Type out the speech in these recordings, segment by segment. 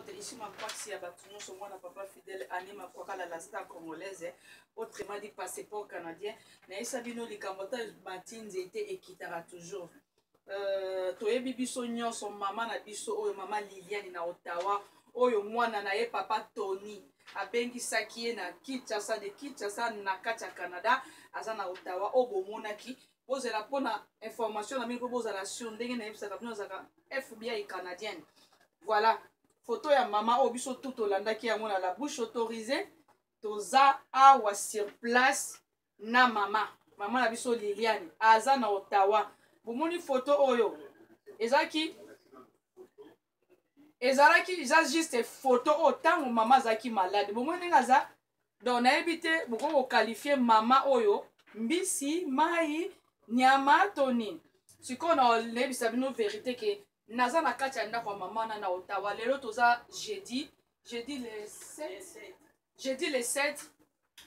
Telishima Mpasi ya bato nyonso mwana papa Fidèle Annie Makwakala la star congolaise autrement dit passeport canadien nayesa bino likambo ata bati nzete ekitaka toujours euh, toyebi biso nyonso mama na biso oyo mama Liliane na Ottawa oyo mwana na ye papa Tony abengisaki ye na Kinshasa de Kinshasa na kati ya Canada aza na Ottawa oyo bomonaki bozela mpo na information na bino mpo bozala sur ndenge nayebisaka bino azalaka fbi canadienne voilà foto ya mama oyo biso tu tolandaki yango na la bouche autorisée toza awa sur place na mama mama na biso liliane aza na ottawa bomoni foto oyo ezalaki ezalaki eza juste photo oyo ntango mama azalaki malade bomoi ndenge aza donc nayebi te bokoki kokalifie mama oyo mbisi mai nyama to nini sikoyo nayebisa bino verité ke naza na kati ya ndako ya mama na na otawa lelo toza jeudi jeudi le 7 jeudi le 7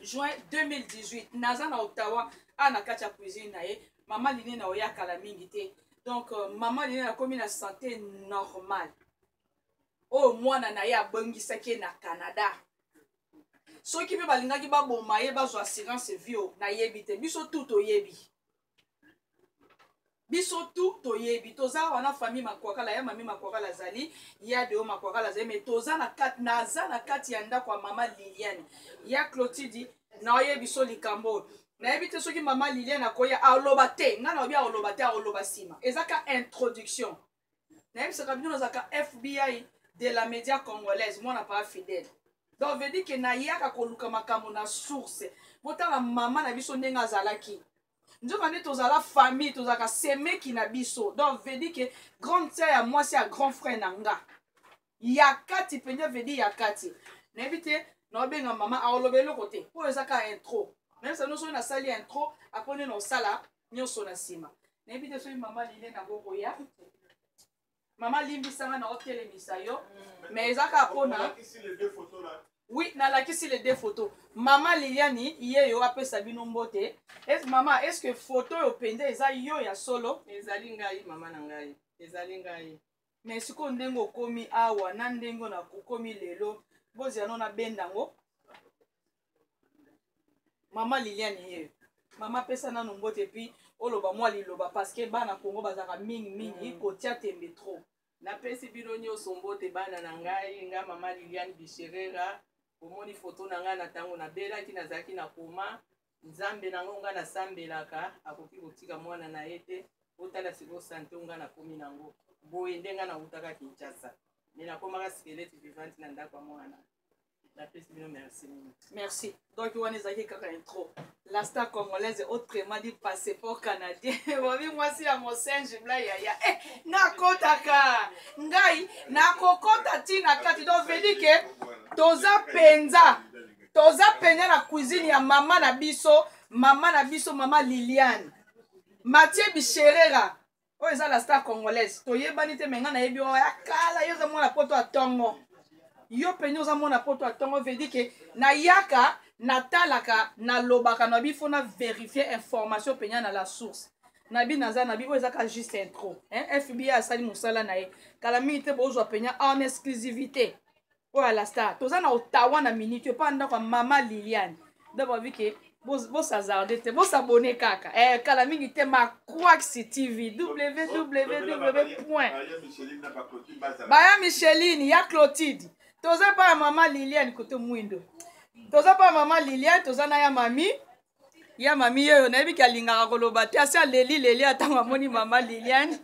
juin 2018 naza na ottawa awa na kati ya cuisine na ye mama line na oya kala mingi te donc euh, mama line nakomi na sante normale oyo oh, mwana na ye abongisaki ye na canada soki mpe balingaki baboma ye bazwa assurance vie nayebi te biso tu toyebi biso tu toyebi toza wana famille makwakala ya mami makwakala azali ya deo makwakala azali me toza na kati naza na kati ya ndako ya mama liliane ya clotidi naoyebi biso likambo oyo nayebi te soki mama liliane akoya aloba te ngai naobi aoloba te aoloba nsima eza ka introduction nayebisaka bino nazalaka fbi de la media congolaise mwana paa fidèle donc veut dire ke nayaka koluka makambo na source botala mama na biso ndenge azalaki nzoka nde tozala famille tozalaka semeki na biso donc veut dire ke grande sœur ya mwasi ya grand frère na nga ya kati mpenza vedi ya kati nayebi te naobenga mama aoloba eloko te oyo eza kaka intro meme sa nyonso oyo nasali intro apres nde naosala nyonso na nsima nayebi te soki mama lile nakokoya mama limbisanga naotelemisa yo mm. mais eza kaka mpona oui nalakisi le deux photo mama liliani ye yo apesa bino mbote es, mama est ce que photo oyo mpenza eza yo ya solo ezali ngai mama na ngai ezali ngai me sikoyo ndenge okomi awa na ndenge na okomi lelo bozela no nabenda yango mama liliane ye mama pesa nano mbote epuis oloba mwa liloba parceke bana kongo bazalaka mingi mingi mm. kotia tembe trop napesi bino nyonso mbote bana na ngai nga mama liliane bisherera omoni foto na ngai na ntango nabelaki nazalaki na koma nzambe nango nga nasambelaka akoki kotika mwana na ye te otala sikoyo sante nga nakomi nango boye nde nga nawutaka kinshasa me nakomaka skelete vivante na ndako ya mwana napesi bino merci mingi merci donc wana ezalaki kaka intro la star congolaise autrement dit passeport canadien bobi mwasi ya mosenji bla yaya eh, nakotaka ngai nakokota ntina kati donc vedi ke toza mpenza toza penya na cuisine ya mama na biso mama na biso mama liliane matie bisherera oyo eza la star congolaise toyebani te menga nayebi oyo ya kala yo oza mwana poto ya tongo yo penya oza mwana poto ya tongo vedi ke nayaka natalaka nalobaka na bifo na verifie information penya na la source na bi naza na bi oyo eza ka juste intro fbi asali mosala na ye kala mingi te bozwa penya en exclusivité oyo alasta toza na ottawa na minute epa ndako ya mama liliane donc babi ke bosazarde te bosabone kaka eh, kala mingi te maquax tv www point baya micheline ya clotide toza mpa ya mama liliane kote mwindo toza mpa ya mama liliane toza na ya mami ya mami yeyo nayebi ke alingaka koloba te asi aleli leli atango amoni mama liliane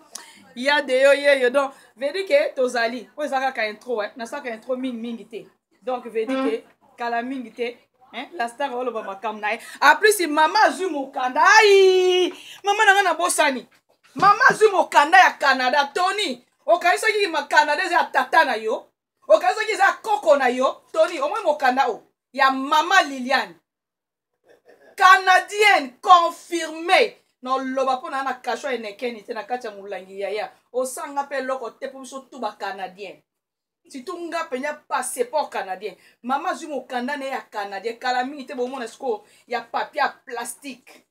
ya de yo yeyo donc vedi ke tozali oyo eza kaka intro eh? nasalaka intro mingi mingi te donc vedi ke kala mingi te eh? la star oloba makambo na ye aplus mama azwi mokanda ai mama na ngai nabosani mama azwi mokanda ya canada tony okanisaki canada eza ya tata na yo okanisaki eza ya koko na yo tony omoi mokanda oyo ya mama liliane canadienne confirme noloba mpo naa na kasho enekeni te na kati ya molangi yaya osanga mpe eloko te mpo biso tu bacanadien surtout nga mpenza passeport canadien mama azwi mokanda na ye ya canadien kala mingi te bomona sikoyo ya papier ya plastique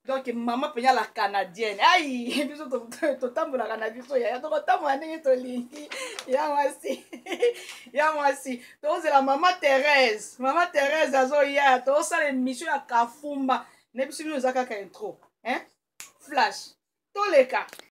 donc mama mpenza la canadienne ai biso totambolaka na biso yaya tokotambola ndenge tolingi ya mwasi ya mwasi tozela mama therese mama therese azoya tozosala émission ya kafumba na biso bino eza kaka intro hein? flash toleka